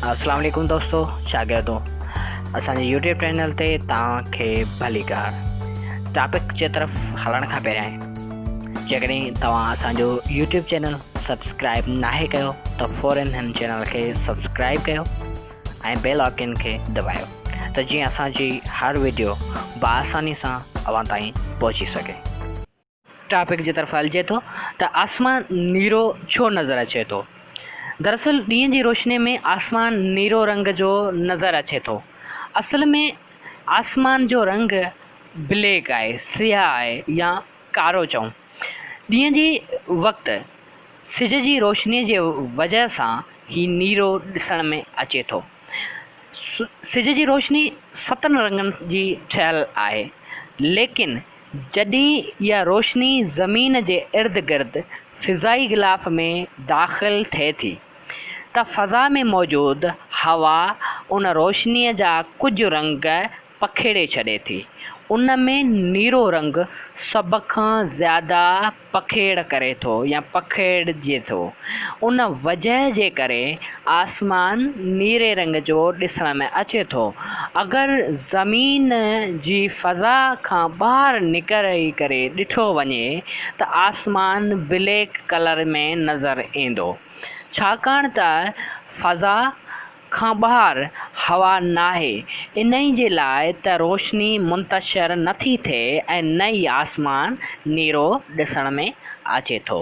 اسلام عليڪم دوستو شاگردو اسان جي يوٽيوب چينل تي توهان کي ڀلي ڪار ٽاپڪ جي طرف هلڻ کان پهريان جيڪڏهن توهان اسان جو يوٽيوب چينل سبسڪرائب ناهي ڪيو ته فورن هن چينل کي سبسڪرائب ڪيو ۽ بيل آئڪن کي دٻايو ته جيئن اسان جي هر ويڊيو بآساني سان اوهان تائين پهچي سگهي ٽاپڪ جي طرف هلجي ٿو ته آسمان نيرو ڇو نظر اچي ٿو؟ دراصل ڏينهن جي روشني ۾ آسمان نيرو رنگ جو نظر اچي ٿو. اصل ۾ آسمان جو رنگ بليڪ آهي، سياهه آهي يا ڪارو چئون. ڏينهن جي وقت سج جي روشني جي وجهه سان هي نيرو ڏسڻ ۾ اچي ٿو. سج جي روشني ستن رنگن جي ٺهيل آهي ليڪن. جڏهن اها روشني زمين جي ارد گرد فضائي غلاف ۾ داخل ٿئي ٿي ته فضا ۾ موجود هوا ان روشنيء جا ڪجهه رنگ پکيڙي ڇڏي ٿي. ان ۾ نيرو رنگ سڀ کان زياده پکيڙ ڪري ٿو يا پکيڙجي ٿو. ان وجهه جي ڪري آسمان نيري رنگ جو ڏسڻ ۾ اچي ٿو. اگر زمين جي فضا کان ٻاهر نڪري ڪري ڏٺو وڃي ته آسمان بليڪ ڪلر ۾ نظر ايندو ڇاڪاڻ ته فضا کان ٻاهر هوا ناهي، انهي جي لاء ته روشني منتشر نه ٿي ٿئي ۽ نه ئي آسمان نيرو ڏسڻ ۾ اچي ٿو.